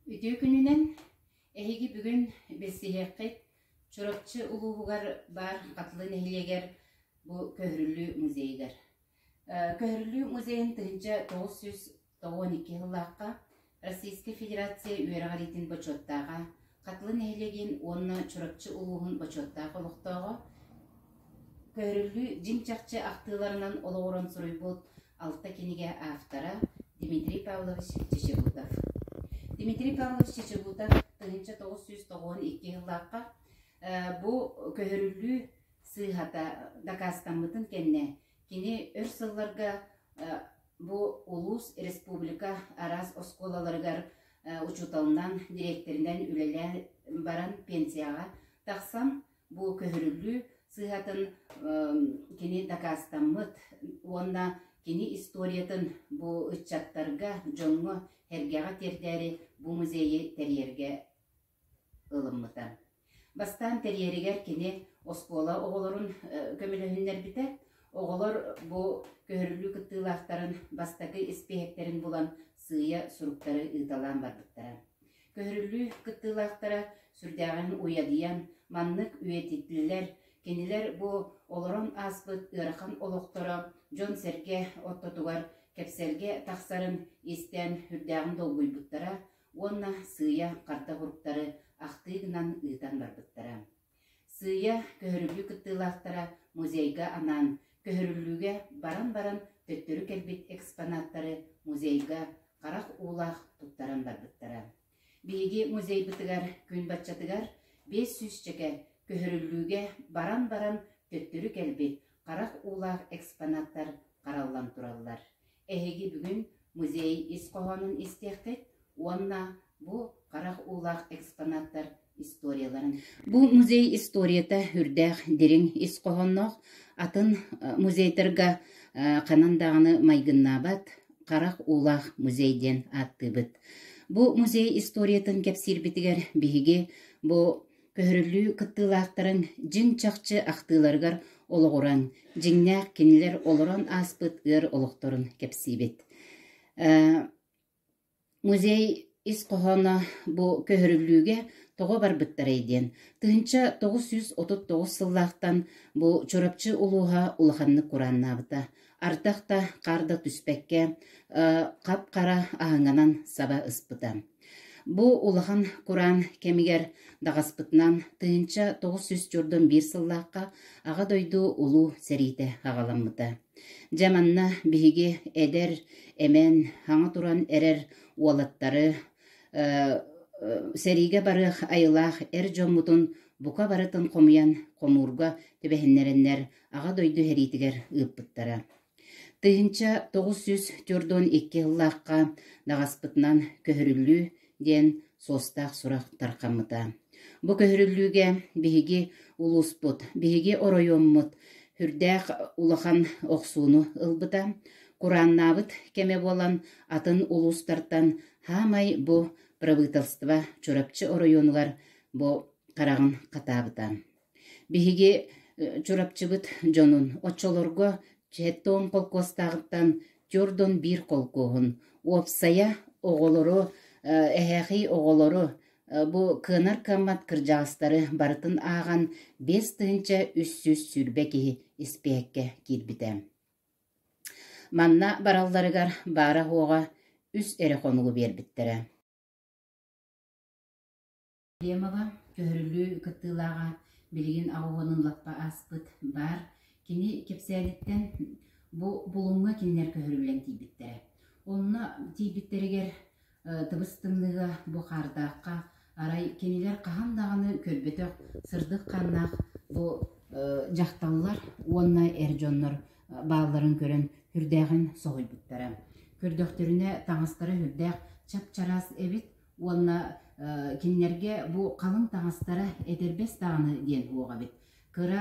Үтүө күнүнэн! Эһиги бүгүн билсиһиэххит Чурапчы улууһугар баар Хатылы нэһилиэгэр бу көһөрүллүү музейыгар. Көһөрүллүү музейын тыһыынча тоҕус сүүс Тоҕо уон икки сыллаахха Российскай Федерация үөрэҕириитин бочуоттааҕа, Хатылы нэһилиэгин уонна Чурапчы улууһун бочуоттаах олохтооҕо, көһөрүллүү дьиҥ чахчы ахтыыларынан олоҕуран суруйбут алта кинигэ автора Дмитрий Павлович Чечебутов. Дмитрий Павлович Чечебутов тыһыынча тоҕус сүүс тоҕуон икки сыллаахха бу көһөрүллүү сыыһата дакаастаммытын кэннэ кини өр сылларга Бу улуус, республика араас оскуолаларыгар учууталынан, дириэктэринэн үлэлээн баран пенсияҕа тахсан, бу көһөрүллүү сыһатын кини дакаастаммыт уонна кини историятын бу ыччаттарга, дьоҥҥо, эргэҕэ тиэрдээри бу музейы тэрийэргэ ылыммыта. Бастаан тэрийэригэр кини оскуола оҕолорун көмөлөһүннэрбитэ. Оҕолор бу көһөрүлүү кыттыылаахтарын бастакы испииһэктэрин булан сыыйа суруктары ыыталаан барбыттара. Көһөрүлүү кыттыылаахтара сүрдээҕин уйадыйан, маннык үйэтитиллэр, кинилэр бу олорон ааспыт ыарахан олохторо дьон-сэргэ ортотугар кэпсэлгэ тахсарын истэн үрдээҕин долгуйбуттара, уонна сыыйа харда уһуруктары ахтыы гынан ыытан барбыттара. Сыыйа көһөрүлүү кыттыылаахтара музейга анаан, көһөрүллүүгэ баран баран төттөрү кэлбит экспонаттары музейга харах уулаах туттаран барбыттара. Биһиги музейбытыгар күн баччатыгар биэс сүүсчэкэ көһөрүллүүгэ баран баран төттөрү кэлбит харах уулаах экспонаттар хараллан тураллар. Эһиги бүгүн музей ис хоһоонун истиэххит уонна бу харах уулаах экспонаттар историяларын. Бу музей историята үрдээх дириҥ ис хоһоонноох, атын музейтарга ханан даҕаны майгыннаабат харах уулаах музей диэн ааттыыбыт. Бу музей историятын кэпсиирбитигэр биһиги бу Көһөрүлүү кыттыылаахтарын дьиҥ чахчы ахтыыларыгар олоҕуран, дьиҥнээх кинилэр олорон ааспыт ыар олохторун кэпсиибит. Музей ис хоһооно бу көһөрүллүүгэ тоҕо барбыттарай диэн тыһыынча тоҕус сүүс отут тоҕус сыллаахтан бу Чурапчы улууһа улаханнык курааннаабыта. Ардах да, хаар да түспэккэ, хап-хара аһыҥанан саба ыспыта. Бу улахан кураан кэмигэр даҕаспытынан тыһыынча тоҕус сүүс дьурдун биир сыллаахха Аҕа дойду Улуу сэриитэ аҕаламмыта. Дьэ манна биһиги эдэр, эмэн, хаҥа туран эрэр уолаттары сэриигэ барыах айылаах эр дьоммутун бука барытын хомуйан хомуурга түбэһиннэрэннэр Аҕа дойду сэриитигэр ыыппыттара. Тыһыынча тоҕус сүүс төрт уон икки сыллаахха даҕаспытынан көһөрүллүү диэн суостаах сурах тархаммыта. Бу көһөрүллүүгэ биһиги улууспут, биһиги оройуоммут үрдээх улахан охсууну ылбыта. Курааннаабыт кэмэ буолан атын улуустартан хаамай бу правительство Чурапчы оройуонугар бу хараҕын хатаабыта. Биһиги Чурапчыбыт дьонун, оччолорго Чэттоон холкуостааҕыттан Тёрдон биир холкуоһун, уопсайа оҕолору, эһээхий оҕолору, бу кыанар кыаммат кырдьаҕастары барытын ааҕан биэс тыһыынча үс сүүс сүүрбэ киһи испиэккэ киирбитэ. Манна баралларыгар баара-уоҕа үс эрэ хонугу биэрбиттэрэ. Климова көһөрүлүү кыттыылааҕа билигин оҕуһунан лаппа ааспыт баар, кини кэпсээниттэн бу булуҥҥа кинилэр көһөрүллэн тиийбиттэрэ. Онно тиийбиттэригэр тыбыс-тымныыга бу хаардаахха арай кинилэр хаһан даҕаны көрбөтөх сырдык хааннаах бу дьахталлар уонна эр дьоннор баалларын көрөн үрдээҕин соһуйбуттара. Көрдөхтөрүнэ таҥастара үрдээх чап-чараас эбит, Уонна кинилэргэ бу халыҥ таҥастара этэрбэс даҕаны диэн уоҕа эбит. Кыра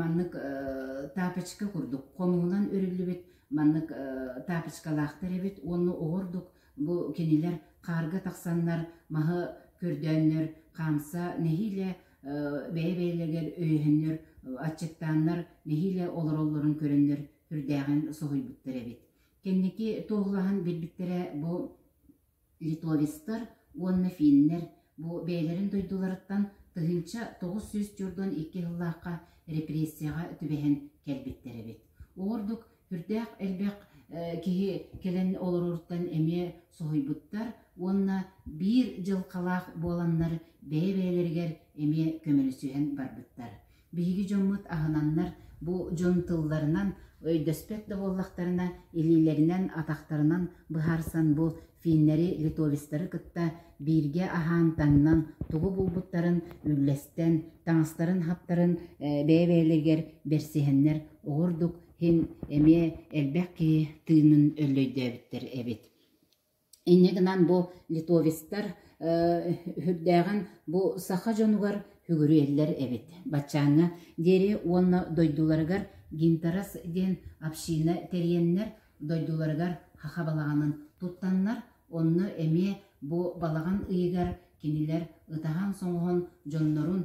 маннык тапочка курдук хомуһунан үрүллүбүт маннык тапочкалаахтар эбит уонна оҕурдук бу кинилэр хаарга тахсаннар маһы көрдөөннөр хаамса нэһиилэ бэйэ-бэйэлэригэр өйөһөннөр аччыктааннар нэһиилэ олороллорун көрөннөр үрдээҕин соһуйбуттар эбит. Кэнники туоһулаһан билбиттэрэ бу Литовецтар уонна финнэр бу бэйэлэрин дойдуларыттан тыһыынча тоҕус сүүс түөрт уон икки сыллаахха репрессияҕа түбэһэн кэлбиттэр эбит. Ол ордук сүрдээх элбэх киһи кэлэн олороруттан эмиэ соһуйбуттар уонна биир дьылҕалаах буоланнар бэйэ-бэйэлэригэр эмиэ көмөлөсүһэн барбыттар. Биһиги дьоммут аһынаннар, бу дьон тылларынан, өйдөспөт да буоллахтарына, илиилэринэн, атахтарынан быһаарсан бу финнэри, литовецтары кытта бииргэ аһаан-таҥнан тугу булбуттарын үллэстэн, таҥастарын-хаптарын бэйэ-бэйэлэригэр берсиһэннэр оҕурдук иһин эмиэ элбэх киһи тыынын өллөйдөөбүттэр эбит Инньэ гынан бу литовецтар үһүрдээҕин бу саха дьонугар үгүрүйэллэр эбит. Баччааҥҥа диэри уонна дойдуларыгар Гинтарас диэн община тэрийэннэр, дойдуларыгар хаха балаҕанын туттаннар, онно эмиэ бу балаҕан ыйыгар кинилэр ытаһан-соҥоһон дьоннорун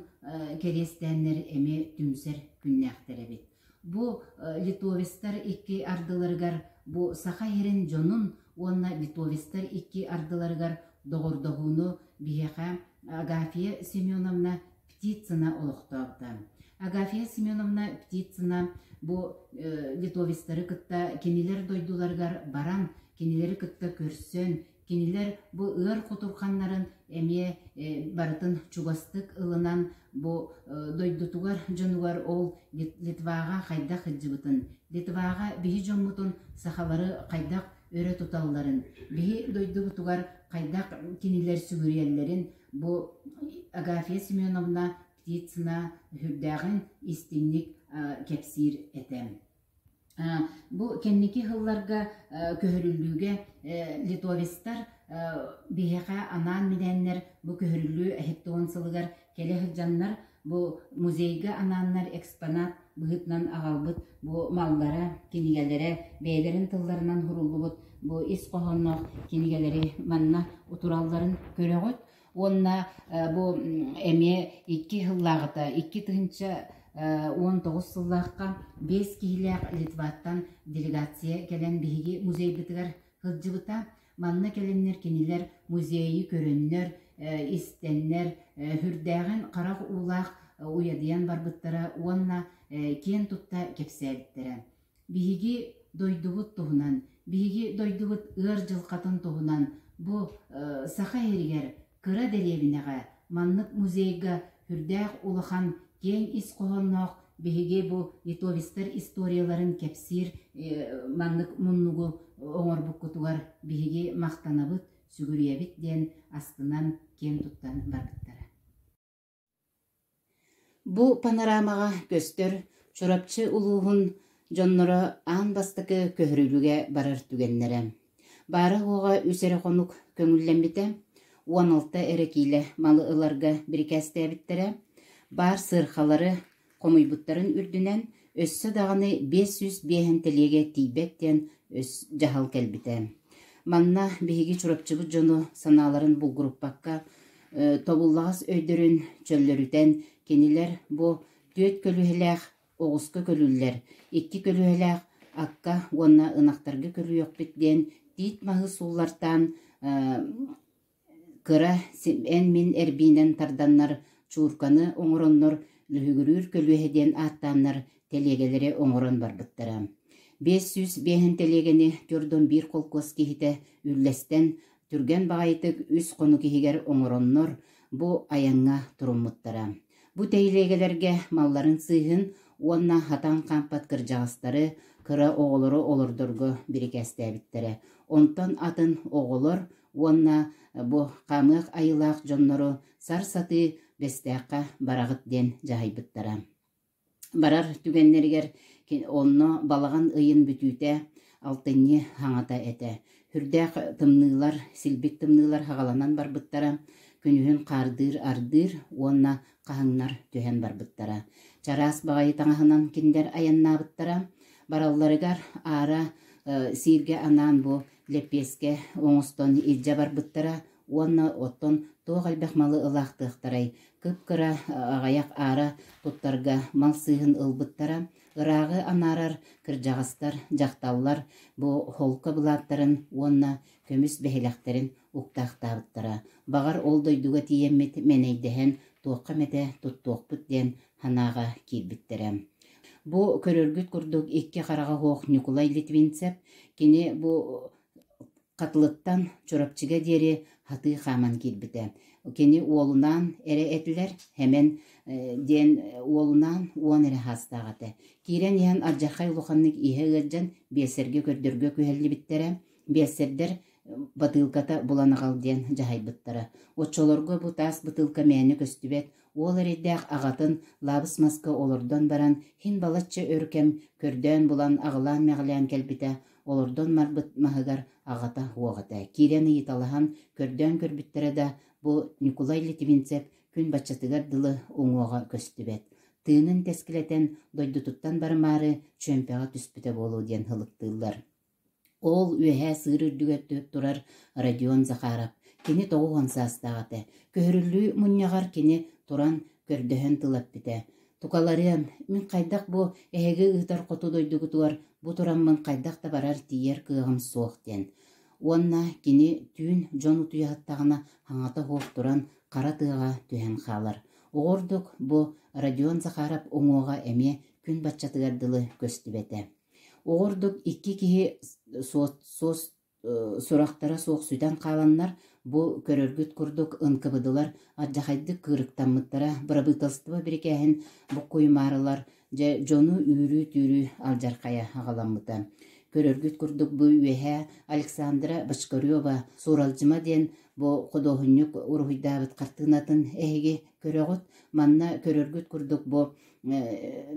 кэриэстээннэр эмиэ түмсэр күннээхтэр эбит. Бу литовецтар икки ардыларыгар бу Саха иһирин дьонун уонна литовецтар икки ардыларыгар доҕордоһууну биһиэхэ Агафия Семеновна Птицына олохтообута. Агафия Семеновна Птицына бу литовецтары кытта кинилэр дойдуларыгар баран, кинилэри кытта көрсөн, Кинилэр бу ыар кутурханнарын эмиэ барытын чугастык ылынан бу дойдутугар дьонугар ол Литваҕа хайдах сылдьыбытын, Литваҕа биһи дьоммутун сахалары хайдах өрө туталларын, биһи дойдубутугар хайдах кинилэр сүгүрүйэллэрин бу Агафья Семеновна Птицына сүрдээҕин истиҥник кэпсиир этэ. Бу кэнники сылларга көһөрүллүүгэ литовецтар биһиэхэ анаан-минээннэр бу көһөрүллүү сэттэ уон сылыгар кэлэ сылдьаннар бу музейга анааннар экспонат быһыытынан аҕалбыт бу маллара, кинигэлэрэ бэйэлэрин тылларынан суруллубут бу ис хоһоонноох кинигэлэри манна утуралларын көрөҕүт. уонна бу эмиэ икки сыллааҕыта икки тыһыынча уон тоҕус сыллаахха биэс киһилээх литваттан делегация кэлэн биһиги музейбытыгар сылдьыбыта манна кэлэннэр кинилэр музейы көрөннөр истэннэр үрдээҕин харах уулаах уйадыйан барбыттара уонна киэн тутта кэпсээбиттэрэ Биһиги дойдубут туһунан, биһиги дойдубут ыар дьылҕатын туһунан бу Саха иһиригэр кыра дэриэбинэҕэ, маннык музейга сүрдээх улахан, киэҥ ис хоһоонноох биһиги бу литовецтар историяларын кэпсиир маннык муннугу оҥорбуккутугар биһиги махтанабыт, сүгүрүйэбит диэн астынан киэн туттан барбыттара. Бу панорамаҕа көстөр Чурапчы улууһун дьонноро аан бастакы көһөрүлүгэ барар түгэннэрэ, баара-уоҕа үс эрэ хонук көҥүллэммитэ, уон алта эрэ киилэ малы ыларга бирикээстээбиттэрэ, баар сыархалары, хомуйбуттарын үрдүнэн, өссө даҕаны биэс сүүс биэһин тэлиэгэ тиийбэт диэн өс дьаһал кэлбитэ. Манна биһиги Чурапчыбыт дьону санааларын булгуруппакка, тобуллаҕас өйдөрүн чөллөрүтэн, кинилэр бу түөрт көлүһэлээх оҕуска көлүүллэр, икки көлүһэлээх акка уонна ынахтарга көрүөхпүт диэн тиит маһы сууллартаан Кыра, эн мин эрбиинэн тарданнар чуурканы оҥороннор Лүһүгүрүүр көлүөһэ диэн ааттааннар тэлиэгэлэри оҥорон барбыттара. Биэс сүүс биэһин тэлиэгэни төрт уон биир холкуос киһитэ үллэстэн, түргэн баҕайытык үс хонук иһигэр оҥороннор бу айаҥҥа туруммуттара. Бу тэлиэгэлэргэ малларын сыыһын уонна хатан хаампат кырдьаҕастары кыра оҕолору олордорго бирикээстээбиттэрэ. Онтон атын оҕолор уонна бу хаамыах айылаах дьоннору сарсатыы Бэстээххэ бараҕыт диэн дьаһайбыттара. Барар түгэннэригэр онно балаҕан ыйын бүтүүтэ алтынньы хаҥата этэ. Үрдээх тымныылар, силбик тымныылар хагаланан барбыттара, күнүһүн хаардыыр-ардыыр уонна хаһыҥнар түһэн барбыттара. Чараас баҕайы таҥаһынан кинилэр айаннаабыттара. Баралларыгар аара сииргэ анаан бу лэппиэскэ оҥостон илдьэ барбыттара уонна оттон туох элбэх малы ылаахтыахтарай кып-кыра аҕыйах аара туттарга мал сыыһын ылбыттара ырааҕы анаарар кырдьаҕастар дьахталлар бу холко былааттарын уонна көмүс бэһилэктэрин уктаахтаабыттара баҕар ол дойдуга тиийэммит мэнэйдэһэн туохха эмэтэ туттуохпут диэн Ханааҕа киирбиттэрэ. Бу көрөргүт курдук икки хараҕа суох Ньукулай Литвинцев кини бу Хатылыттан Чурапчыга диэри сатыы хааман киирбитэ. Кини уолунаан эрэ этилэр, Хэмэн диэн уолунаан уон эрэ саастаах этэ. Киирэн иһэн ардьархай улаханнык иһэ ыалдьан биэлсэргэ көрдөргө күһэллибиттэрэ. биэрсэрдэр бытыылката булан аҕал диэн дьаһайбыттара. Оччолорго бу таас бытыылка мээнэ көстүбэт, уол эрэйдээх аҕатын лаабыс маска олордон баран, хин балачча өр кэм көрдөөн булан аҕылаан-мэҕилээн кэлбитэ, олордон марбыт маһыгар аҕата уох этэ. Киирэн ыйыталаһан көрдөөн көрбүттэрэ да, бу Ньукулай Литвинцев күн баччатыгар дылы уҥуоҕа көстүбэт. Тыынын тэскилэтэн дойдутуттан барымаары чүөмпэҕэ түспүтэ буолуо диэн ылыктыыллар. Ол үөһээ сыыр үрдүгэр түһэн турар Родион Захаров кини тоҕус уон саастаах этэ, көһөрүллүү мунньаҕар кини туран көрдөһөн тыл эппитэ: «Тукаларыам, мин хайдах бу эһиги ыытар хоту дойдугутугар бу тураммын хайдах да барар тиийэр кыаҕым суох» диэн уонна кини түүн дьон утуйаһыттаҕына хаҥата суох туран хара тыаҕа түһэн хаалар. Оҕурдук бу Родион Захаров уҥуоҕа эмиэ күн баччатыгар дылы көстүбэтэ Ол ордук икки киһи сурахтара суох сүтэн хааланнар, бу көрөргүт курдук ынкыбыдылар, алдьархайдык кыырыктаммыттара, бырабыыталыстыба бирикээһин буккуйумаарылар, дьэ дьону үүрүү-түүрүү алдьархайа аҕаламмыта. Көрөргүт курдук бу үөһээ Александра Бочкарева «Сууралдьыма» диэн бу худуоһунньук уруһуйдаабыт хартыынатын эһиги көрөҕүт. Манна көрөргүт курдук бу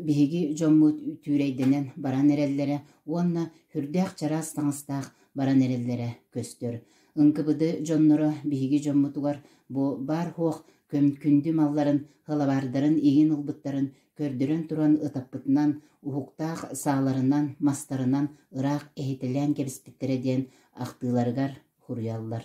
биһиги дьоммут түүрэйдэнэн баран эрэллэрэ уонна сүрдээх чараас таҥастаах баран эрэллэрэ көстөр. НКВД дьонноро биһиги дьоммутугар бу баар-суох көмкүндү малларын халабаардарын иҥин ылбыттарын көрдөрөн туран ытаппытынан, уһуктаах сааларынан, мастарынан ыраах иһитэлээн кэбиспиттэрэ диэн ахтыыларыгар хуруйаллар.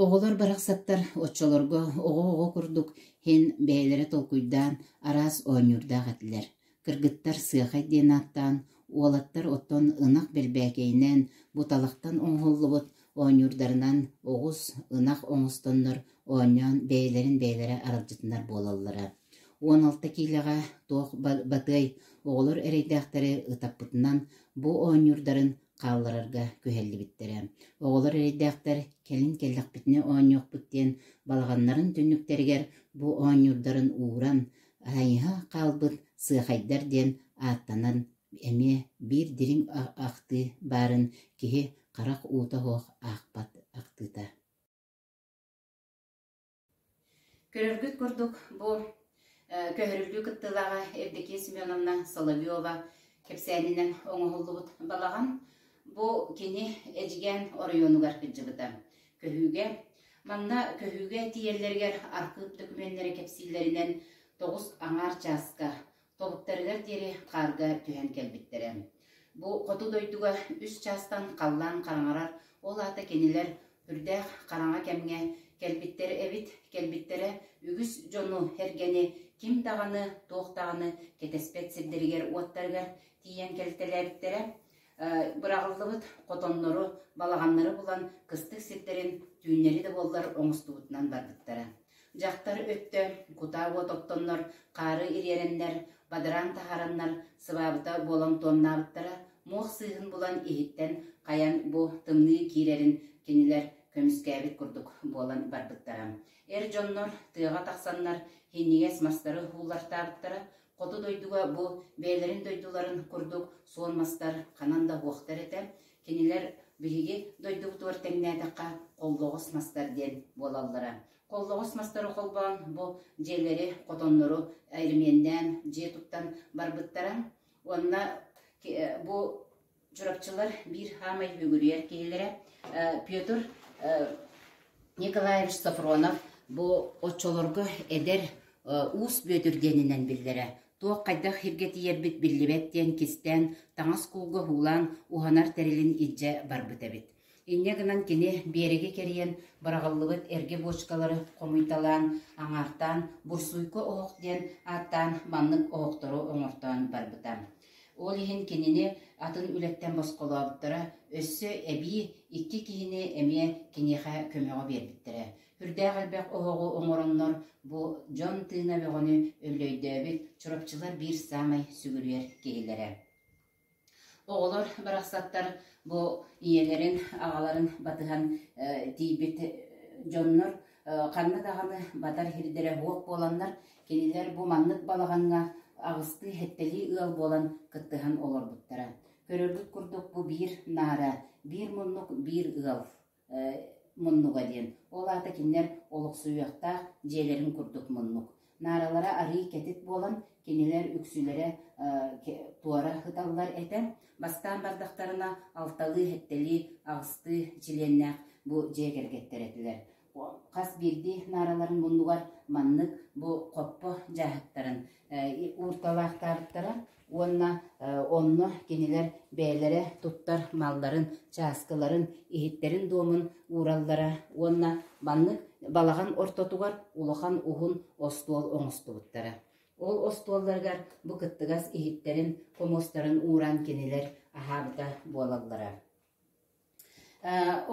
Оҕолор барахсаттар оччолорго оҕо-оҕо курдук иһин бэйэлэрэ толкуйдаан араас оонньуурдаах этилэр. Кыргыттар Сыахай диэн ааттаан, уолаттар оттон ынах бэрбээкэйинээн буталахтан оҥоһуллубут оонньуурдарынан оҕус, ынах оҥостоннор оонньоон бэйэлэрин бэйэлэрэ аралдьытынар буолаллара. Уон алта киилэҕэ туох батыай оҕолор эрэйдээхтэри ытаппытынан бу оонньуурдарын хаалларарга күһэллибиттэрэ. Оҕолор эрэйдээхтэр кэлин кэллэхпитинэ оонньуохпут диэн балаҕаннарын түннүктэригэр бу оонньуурдарын ууран, хайыһа хаалбыт сыахайдар диэн ааттанан эмиэ биир дириҥ ахтыы баарын киһи харах уута суох аахпат ахтыыта. Көрөргүт курдук, бу көһөрүллүү кыттыылааҕа Евдокия Семеновна Соловьева кэпсээнинэн оҥоһуллубут балаҕан бу кини Эдьигээн оройуонугар кыдьыбыта. Көһүүгэ Манна көһүүгэ тиийэллэригэр архыып докумуоннары кэпсииллэринэн тоҕус аҥаар чааска Тобуктарыгар диэри хаарга түһэн кэлбиттэрэ. Бу хоту дойдуга үс чаастан халлаан хараҥарар, ол аата кинилэр үрдээх хараҥа кэмҥэ кэлбиттэрэ эбит, кэлбиттэрэ үгүс дьону, эргэни, ким даҕаны, туох даҕаны кэтэспэт сирдэригэр-уоттарыгар тиийэн кэлтэлээбиттэрэ. быраҕыллыбыт хотоннору, балаҕаннары булан кыстык сирдэрин түүннэри да буоллар оҥостубутунан барбыттара. Дьахтар өттө кутаа уот оттоннор хаары ириэрэннэр, бадараан таһаараннар сыбаабыта буолан туомнаабыттара, муох сыыһын булан иһиттэн хайан бу тымныы киирэрин кинилэр көмүскээбит курдук буолан барбыттара. Эр дьоннор тыаҕа тахсаннар һинньигэс мастары ууллартаабыттара, Хоту дойдуга бу бэйэлэрин дойдуларын курдук суон мастар ханан да уохтар этэ, кинилэр биһиги дойдубутугар тэҥнээтэххэ холлоҕос мастар диэн буолаллара. Холлоҕос мастары холбоон бу дьиэлэри, хотоннору эримиэннээн дьиэ туттан барбыттара уонна бу Чурапчылар биир саамай бүөгүрүйэр киһилэрэ Петр Николаевич Софронов бу оччолорго эдэр уус Бүөтүр диэнинэн биллэрэ туох хайдах сиргэ тиийэрбит биллибэт диэн кистээн таҥас куулга уулаан уһанар тэрилин илдьэ барбыт эбит Инньэ гынан кини биэрэги кэрийэн быраҕыллыбыт эргэ буочукалары хомуйталаан, аҥаартаан «Бурсуйка оһох» диэн ааттаан маннык оһохтору оҥортоон барбыта. Ол иһин кинини атын үлэттэн босхолообуттара, өссө эбии икки киһини эмиэ киниэхэ көмөҕө биэрбиттэрэ. Үрдээх элбэх оһоҕу оҥороннор бу дьон тыына бөҕөнү өллөйдөөбүт Чурапчылар биир саамай сүгүрүйэр киһилэрэ. Оҕолор барахсаттар бу ийэлэрин, аҕаларын батыһан тиийбит дьоннор ханна даҕаны батар сирдэрэ суох буоланнар, кинилэр бу маннык балаҕаҥҥа аҕыстыы, сэттэлии ыал буолан кыттыһан олорбуттара. Көрөргүт курдук, бу биир наара, биир муннук, биир ыал. муннуга диэн. Ол аата кинилэр олохсуйуохтаах дьиэлэрин курдук муннук. Нааралара арыый кэтит буолан, кинилэр үксүлэрэ туора сыталлар этэ. Бастаан бардахтарына алталыы-эттэлии аҕыстыы чилиэннээх бу дьиэ кэргэттэр этилэр. Хас биирдии наараларын муннугар маннык бу хоппо дьааһыктарын уурталаахтаабыттара. уонна онно кинилэр бэйэлэрэ туттар малларын, чааскыларын, иһиттэрин-дуомун уураллара уонна маннык балаҕан ортотугар улахан уһун остуол оҥостубуттара. Ол остуолларыгар бу кыттыгас иһиттэрин, хомустарын ууран кинилэр аһаабыта буолаллара.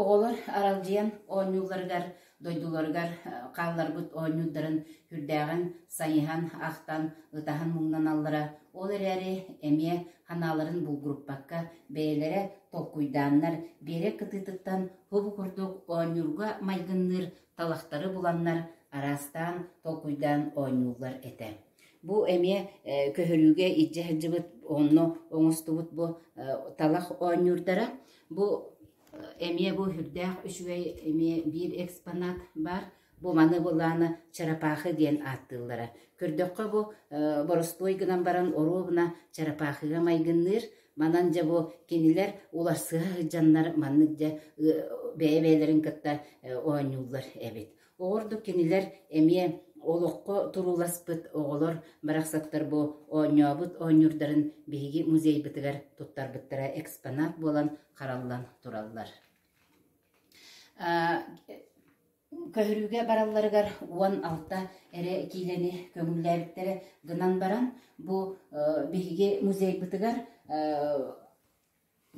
Оҕолор аралдьыйан оонньуулларыгар, дойдуларыгар хаалларбыт оонньуурдарын үрдээҕин сайыһан, ахтан, ытаһан муҥнаналлара, ол эрээри эмиэ санааларын булгуруппакка бэйэлэрэ толкуйдааннар, биэрэк кытыытыттан уһу курдук оонньуурга майгынныыр талахтары буланнар, араастаан толкуйдаан оонньууллар этэ Бу эмиэ көһөрүүгэ илдьэ сылдьыбыт онно оҥостубут бу талах оонньуурдара. Бу эмиэ бу үрдээх үчүгэй эмиэ биир экспонат баар. Бу маны былаана чарапаахы диэн ааттыыллара. Көрдөххө бу боростуой гынан баран оруобуна чарапаахыга майгынныыр. Манан дьэ бу кинилэр уларсыһа сылдьаннар маннык дьэ бэйэ-бэйэлэрин кытта оонньууллар эбит. Ол ордук кинилэр эмиэ олоххо турууласпыт оҕолор барахсаттар бу оонньообут оонньуурдарын биһиги музейбытыгар туттарбыттара экспонат буолан хараллан тураллар. Көһөрүүгэ баралларыгар уон алта эрэ киилэни көҥүллээбиттэрэ гынан баран бу биһиги музейбытыгар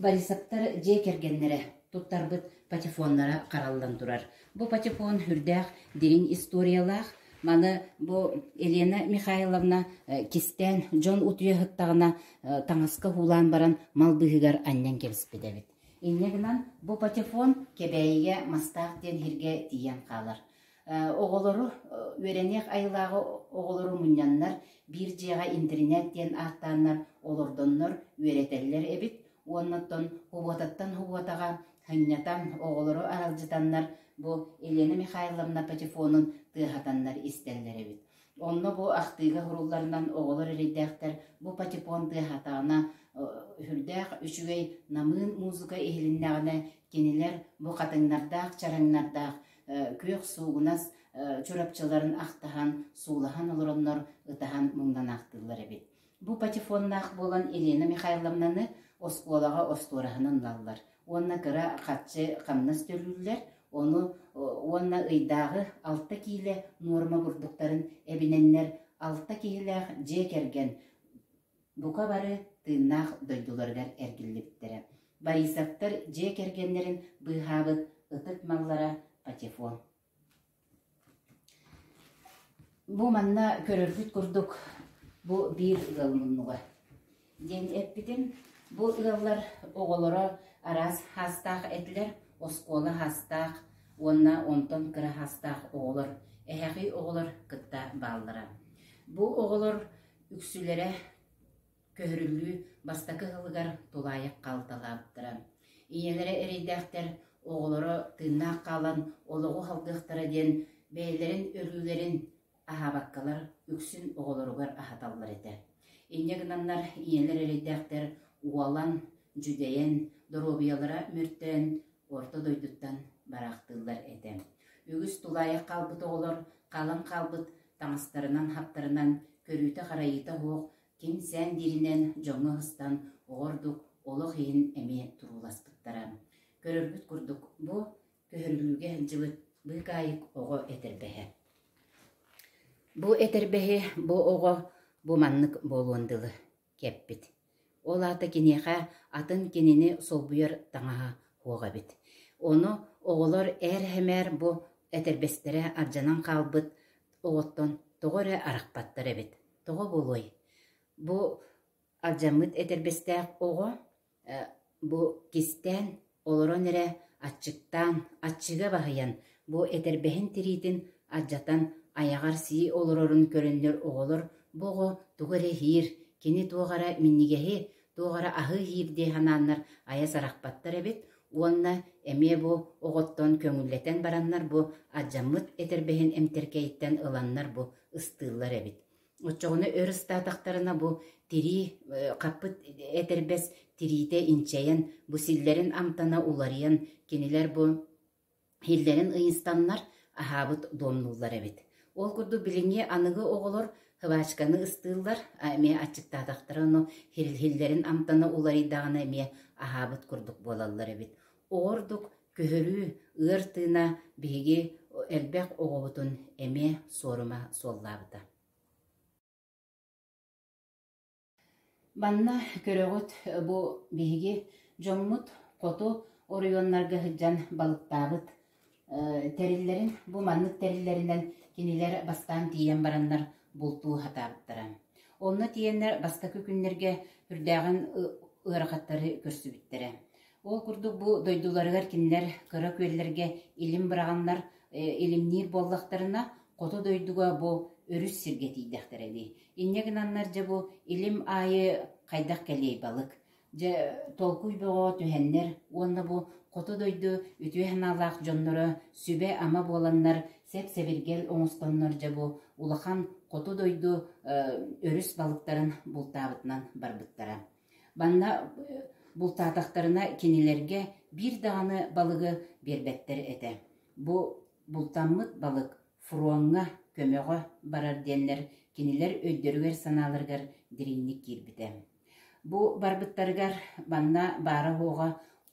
Борисовтар дьиэ кэргэннэрэ туттарбыт патефоннара хараллан турар. Бу патефон үрдээх дириҥ историялаах. Маны бу Елена Михайловна кистээн дьон утуйа сыттаҕына таҥаска уулаан баран мал быыһыгар анньан кэбиспит эбит. Инньэ гынан бу патефон Кэбээйигэ Мастаах диэн сиргэ тиийэн хаалар. Оҕолору үөрэниэх айылааҕы оҕолору мунньаннар биир дьиэҕэ интэринээт диэн ааттааннар олордоннор үөрэтэллэр эбит уонна оттон хубуотаттан хубуотаҕа анньата оҕолору аралдьытаннар бу Елена Михайловна патефонун тыаһатаннар истэллэр эбит. Онно бу ахтыыга сурулларынан оҕолор эрэйдээхтэр бу патефон тыаһатаҕына үрдээх үчүгэй намыын музыка иһилиннэҕинэ кинилэр бу хатыҥнардаах чараҥнардаах күөх суугунас чурапчыларын ахтаһан суулаһан олороннор ытаһан муҥнанаахтыыллар эбит бу патефоннаах буолан елена михайловнаны оскуолаҕа остуораһынан ылаллар уонна кыра хаччы хамнас төлүүллэр ону уонна ыйдааҕы алта киилэ нуорма бурдуктарын эбинэннэр алта киһилээх дьиэ кэргэн Бука бары тыыннаах дойдуларыгар эргиллибиттэрэ, Борисовтар дьиэ кэргэннэрин быыһаабыт ытык маллара патефон. Бу манна көрөргүт курдук, бу биир ыал муннуга. Диэн эппитим, бу ыаллар оҕолоро араас хаастаах этилэр, оскуола хаастаах уонна онтон кыра хаастаах оҕолор, эһэҕий оҕолор кытта бааллара. Бу оҕолор үксүлэрэ көһөрүллүү бастакы сылыгар тулаайах хаалталаабыттара, ийэлэрэ эрэйдээхтэр оҕолоро тыыннаах хаалан олоҕу салгыахтара диэн бэйэлэрин өлүүлэрин аһаабаккалар үксүн оҕолоругар аһаталлар этэ. Инньэ гынаннар ийэлэр эрэйдээхтэр уолан, дьүдэйэн, доруобуйалара мөртөөн орто дойдуттан бараахтыыллар этэ. Үгүс тулаайах хаалбыт оҕолор хаалан хаалбыт таҥастарынан-хаптарынан көрүүтэ-харайыыта суох ким-сээн дииринэн дьоҥҥо ыстан оҕо ордук олох иһин эмиэ турууласпыттара. Көрөргүт курдук бу көһөрүлүүгэ дьылыт быыкаайык оҕо этэрбэһэ. Бу этэрбэһи бу оҕо бу маннык буолуон дылы кэппит. Ол аата киниэхэ атын кинини солбуйар таҥаһа суох эбит. Ону оҕолор ээр-эһэмээр бу этэрбэстэрэ ардьанан хаалбыт оҕоттон тоҕо эрэ арахпаттар эбит. Тоҕо буолуой? Бу алдьаммыт этэрбэстээх оҕо Бу кистээн, олорон эрэ аччыктаан, аччыга баһыйан, бу этэрбэһин тириитин алдьатан, айаҕар сии олорорун көрөннөр оҕолор бу оҕо тугу эрэ иһиир, кини туох эрэ минньигэһи, туох эрэ аһы иһиир дии санааннар айа сарахпаттар эбит уонна эмиэ бу оҕоттон көҥүллэтэн бараннар бу алдьаммыт этэрбэһин эмтэркэйиттэн ыланнар бу ыстыыллар эбит. Оччоҕуна өр ыстаатахтарына бу тирии хаппыт этэрбэс тириитэ инчэйэн, бу силлэрин амтана уларыйан, кинилэр бу иһиллэрин ыйыстаннар, аһаабыт дуомнууллар эбит. Ол курдук билиҥҥи аныгы оҕолор хвачканы ыстыыллар, эмиэ аччыктаатахтара, ону иһиллэрин амтана уларыйдаҕына эмиэ аһаабыт курдук буолаллар эбит. Ол ордук күһүрүү, ыар тыына биһиги элбэх оҕобутун эмиэ суорума суоллаабыта Манна көрөҕүт, бу биһиги дьоммут хоту оройуоннарга сылдьан балыктаабыт тэриллэрин бу маннык тэриллэринэн кинилэр бастаан тиийэн бараннар бултуу сатаабыттара. Онно тиийэннэр бастакы күннэргэ үрдээҕин ыарахаттары көрсүбүттэрэ. Ол курдук бу дойдуларыгар кинилэр кыра күөллэргэ илим быраҕаннар илимниир буоллахтарына, хоту дойдуга бу өрүс сиргэ тиийдэхтэрэ ини. Инньэ гынаннар дьэ бу илим аайы хайдах кэлиэй балык Дьэ, толкуй бөҕө түһэннэр уонна бу хоту дойду үтүө санаалаах дьонноро сүбэ-ама буоланнар сэп-сэбиргэл оҥостоннор дьэ бу улахан хоту дойду өрүс балыктарын бултаабытынан барбыттара. Манна бултаатахтарына кинилэргэ биир даҕаны балыгы биэрбэттэр этэ. Бу бултаммыт балык Фроҥҥа көмөҕө барар диэннэр кинилэр өйдөрүгэр-санааларыгар дириҥник киирбитэ. Бу барбыттарыгар манна баара-уоҕа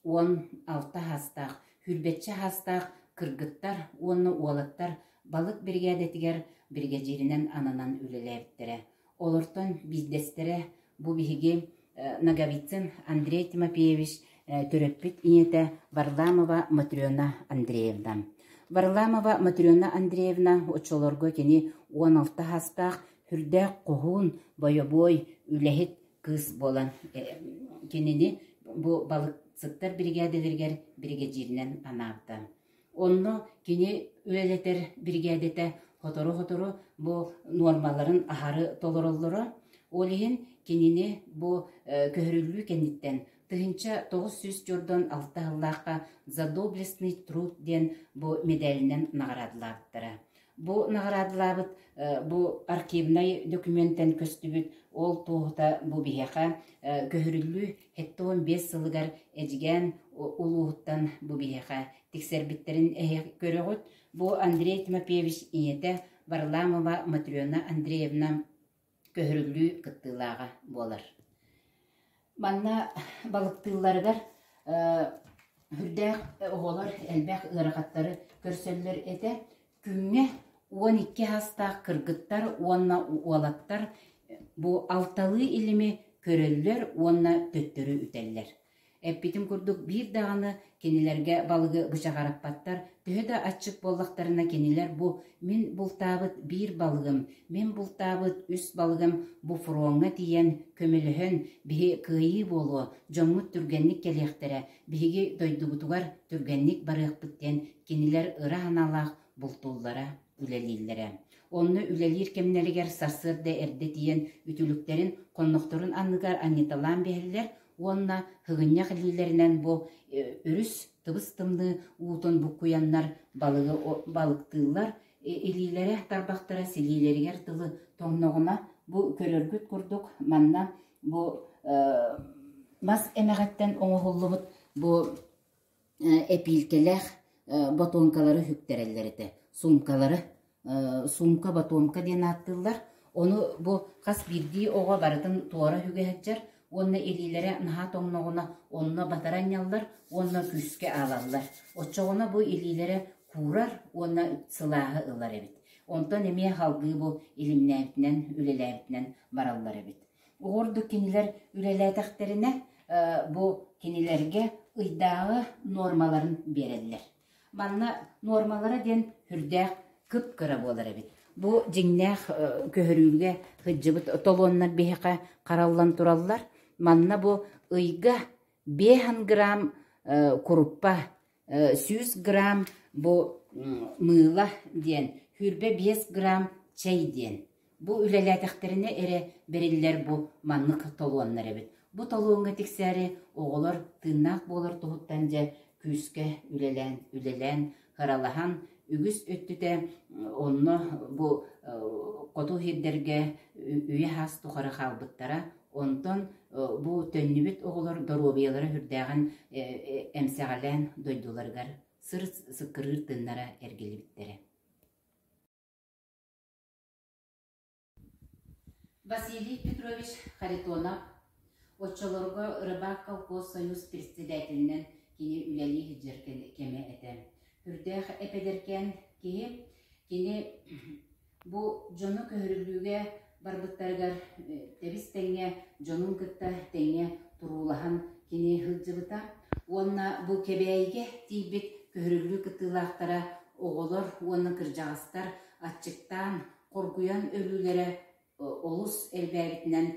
уон алта саастаах, хүрбэччэ саастаах кыргыттар уонна уолаттар балык биригээдэтигэр биригэдьииринэн ананан үлэлээбиттэрэ. Олортон биирдэстэрэ, бу биһиги Ноговицын Андрей Тимофеевич төрөппүт ийэтэ Варламова Матрена Андреевна. Варламова Матрена Андреевна оччолорго кини уон алта саастаах үрдээх хоһуун, бойобуой, үлэһит кыыс буолан кинини бу балыксыттар биригээдэлэригэр биригэдьииринэн анаабыта. Онно кини үлэлэтэр биригээдэтэ сотору-сотору бу нуормаларын аһары толороллоро, ол иһин кинини бу көһөрүллүү кэнниттэн тыһыынча тоҕус сүүс дьордон алта сыллаахха «За доблестный труд» диэн бу медалинэн наҕараадалаабыттара. Бу наҕараадалаабыт бу архивнай документэн көстүбүт ол туоһута бу биһиэхэ көһөрүллүү сэттэ уон биэс сылыгар Эдьигээн улууһуттан бу биһиэхэ тиксэрбиттэрин көрөҕүт. Бу Андрей Тимофеевич ийэтэ Варламова Матрена Андреевна көһүрүллүү кыттыылааҕа буолар. Манна балыктыылларыгар үрдээх оҕолор элбэх ыарахаттары көрсөллөр этэ. Күҥҥэ уон икки саастаах кыргыттар уонна уолаттар бу алталыы илими көрөллөр уонна төттөрү үтэллэр. Эппитим курдук, биир даҕаны кинилэргэ балыгы бычаҕараппаттар, төһө да аччык буоллахтарына кинилэр бу «Мин бултаабыт биир балыгым, мин бултаабыт үс балыгым» бу фроҥҥа тиийэн көмөлөһөн, биһи кыайыы буолуо, дьоҥҥут түргэнник кэлиэхтэрэ, биһиги дойдубутугар түргэнник барыахпыт диэн кинилэр ыра санаалаах бултууллара үлэлииллэрэ. Онно үлэлиир кэмнэригэр сарсыарда эрдэ тиийэн үтүлүктэрин, хоннохторун анныгар анньыталаан биэрэллэр, уонна Һыгынньах илиилэринэн бу өрүс тыбыс-тымныы уутун буккуйаннар балыгы балыктыыллар, илиилэрэ тарбахтара силиилэригэр дылы тоҥноҕуна бу көрөргүт курдук манна бу мас эмэҕиттэн оҥоһуллубут бу эпиилкэлээх ботуоҥкалары үһүктэрэллэр этэ. Суумкалары, суумка, ботуоҥка диэн ааттыыллар. Ону бу хас биирдии оҕо барытын туора үгэһэччэр уонна илиилэрэ наһаа тоҥноҕуна онно батаранньаллар уонна күүскэ аалаллар. Оччоҕуна бу илиилэрэ куурар уонна сылааһы ылар эбит. Онтон эмиэ халдыы бу илимнээбитинэн, үлэлээбитинэн бараллар эбит. Оҕурдук кинилэр үлэлээтэхтэринэ, бу кинилэргэ ыйдааҕы нуормаларын биэрэллэр. Манна нуормалара диэн үрдээх кып-кыра буолар эбит. Бу дьиҥнээх көһөрүүгэ сылдьыбыт толуоннар биһиэхэ хараллан тураллар. Манна бу ыйга 500 грамм куруппа сүүс грамм бу мыыла диэн, хүүрбэ биэс грамм чэй диэн. Бу үлэлээтэхтэринэ эрэ бэриллэр бу маннык толуоннар эбит. Бу толуоҥҥа тиксээри оҕолор тыыннаах буолар туһуттан дьэ күүскэ үлэлээн, үлэлээн, кыралаһан үгүс өттүтэ онно бу хоту иһирдэргэ үйэ-аас тухары хаалбыттара Онтон бу төннүбүт оҕолор доруобуйалара үрдээҕин эмсэҕэлээн дойдуларыгар сыр сыккырыыр тыннара эргиллибиттэрэ. Василий Петрович Харитонов оччолорго Рыбак колхоз союз председателинэн кини үлэлии сылдьар кэмэ этэ. Үрдээх эпэдэркээн киһи кини Бу дьону көһөрүлүүгэ барбыттарыгар тэбис-тэҥҥэ дьонун кытта тэҥҥэ туруулаһан кини сылдьыбыта уонна бу Кэбээйигэ тиийбит көһөрүлүү кыттыылаахтара оҕолор уонна кырдьаҕастар аччыктаан, хоргуйан өлүүлэрэ олус элбээбитинэн,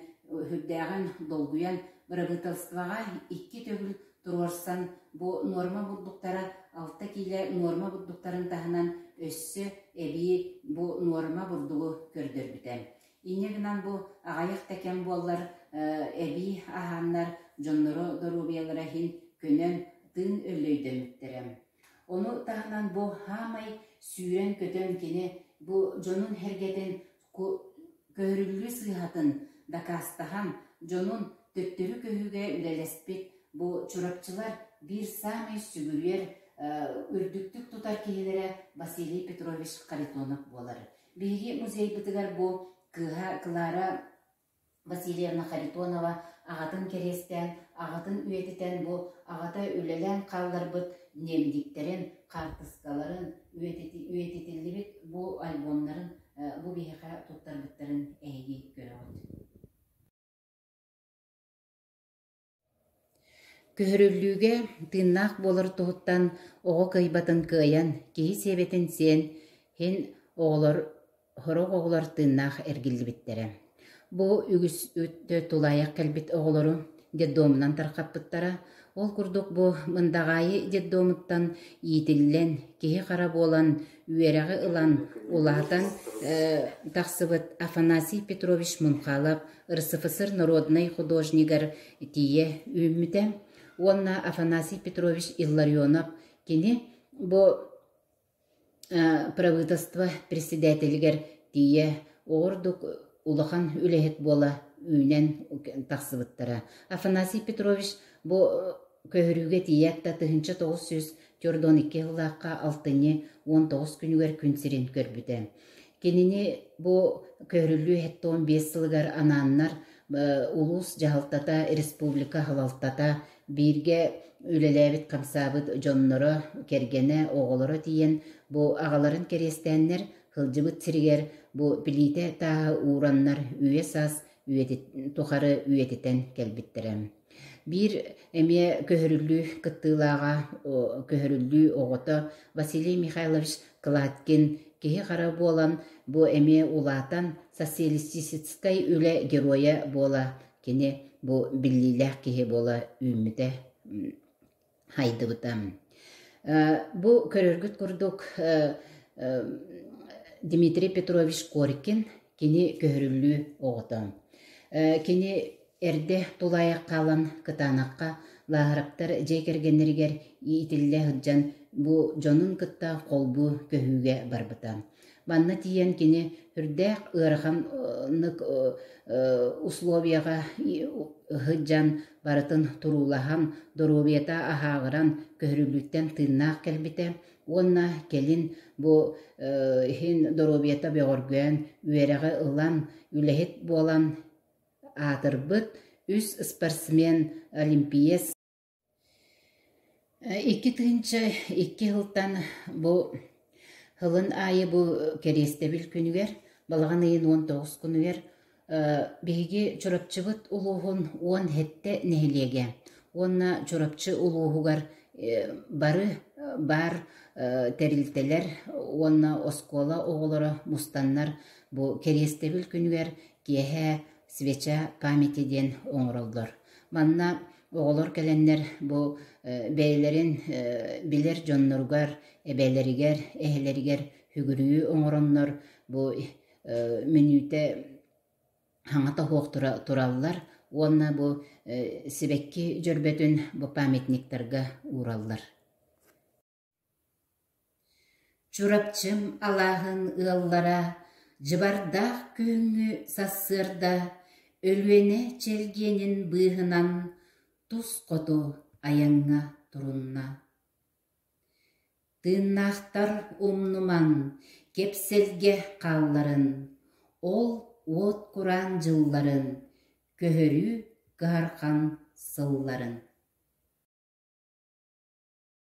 сүрдээҕин долгуйан, бырабыыталыстыбаҕа икки төгүл Туруорсан, бу нуорма бурдуктара алта киилэ нуорма бурдуктарын таһынан өссө эбии бу нуорма бурдугу көрдөрбүтэ. Инньэ гынан бу аҕайах да кэм буоллар эбии аһааннар дьоннору доруобуйалара иһин көнөн тыын өллөйдөммүттэрэ. Ону таһынан бу хаамай сүүрэн-көтөн кини бу дьонун-сэргэтин Көһөрүллүү сыыһатын дакаастаһан, дьонун төттөрү көһүүгэ үлэлэспит бу чурапчылар биир саамай сүгүрүйэр, үрдүктүк тутар киһилэрэ Василий Петрович Харитонов буолар. Биһиги музейбытыгар бу кыыһа Клара Васильевна Харитонова аҕатын кэриэстээн, аҕатын үйэтитэн бу аҕата үлэлээн хаалларбыт ниэмдиктэрин, хаартыскаларын, үйэтитиллибит бу альбомнарын бу биһиэхэ туттарбыттарын эһиги көрөҕүт Көһөрүллүүгэ тыыннаах буолар туһуттан оҕо кыайбатын кыайан, киһи сиэбэтин сиэн иһин оҕолор сорох оҕолор тыыннаах эргиллибиттэрэ. Бу үгүс өттө тулаайах кэлбит оҕолору детдомунан тарҕаппыттара. Ол курдук бу Мындаҕаайы детдомуттан иитиллэн, киһи-хара буолан үөрэҕи ылан улаатан тахсыбыт Афанасий Петрович Мунхалов РСФСР народнай художнигар тиийэ үүммүтэ уонна Афанасий Петрович Илларионов кини бу правительство председателигэр тиийэ оҕурдук улахан үлэһит буола үүнэн тахсыбыттара Афанасий Петрович бу Көһөрүүгэ тиийээт да тыһыынча тоҕус сүүс төрт уон икки сыллаахха алтынньы уон тоҕус күнүгэр күн сирин көрбүтэ. Кинини бу көһөрүллүү сэттэ биэс сылыгар анааннар улуус дьаһалтата, республика салалтата бииргэ үлэлээбит хамсаабыт дьонноро, кэргэнэ, оҕолоро тиийэн бу аҕаларын кэриэстээннэр, сылдьыбыт сиригэр бу плитэ тааһы уураннар үйэ-саас тухары үйэтитэн кэлбиттэрэ. Биир эмиэ көһөрүллүү кыттыылааҕа, көһөрүллүү оҕото Василий Михайлович Кладкин киһи-хара буолан, бу эмиэ улаатан социалистическай үлэ геройа буола, кини бу биллиилээх киһи буола үүммүтэ. Хайдыбыта. Бу көрөргүт курдук Дмитрий Петрович Корькин кини көһөрүллүү оҕото. Кини эрдэ тулаайах хаалан кытаанахха лааһыраптар дьиэ кэргэннэригэр иитиллэ сылдьан бу дьонун кытта холбуу көһүүгэ барбыта. Манна тиийэн кини үрдээх ыараханнык условияҕа сылдьан барытын туруулаһан, доруобуйата аһааҕыран, көһөрүллүүттэн тыыннаах кэлбитэ уонна кэлин бу иһин доруобуйата бөҕөргөөн, үөрэҕи ылан, үлэһит буолан аатырбыт үс спортсмен, олимпиец Икки тыһыынча икки сылтан бу сылын аайы бу кэриэстэбил күнүгэр, балаҕан ыйын уон тоҕус күнүгэр биһиги Чурапчыбыт улууһун уон сэттэ нэһилиэгэ уонна Чурапчы улууһугар бары баар тэрилтэлэр уонна оскуола оҕолоро мустаннар бу кэриэстэбил күнүгэр киэһэ свеча памяти диэн оҥороллор. Манна оҕолор кэлэннэр бу бэйэлэрин билэр дьонноругар, эбэлэригэр, эһэлэригэр үгүрүйүү оҥороннор бу мүнүүтэ хаҥата оһуох тураллар уонна бу сибэкки дьөрбөтүн бу памятниктарга уураллар Чурапчым алааһын ыаллара Дьыбардаах күһүҥҥү сарсыарда Өлүөнэ чэлгиэнин быыһынан Тус хоту айаҥҥа турунна. Тыыннаахтар умнуман Кэпсэлгэ хаалларын, Ол уот кураан дьылларын Көһөрүү кыһарҕан сылларын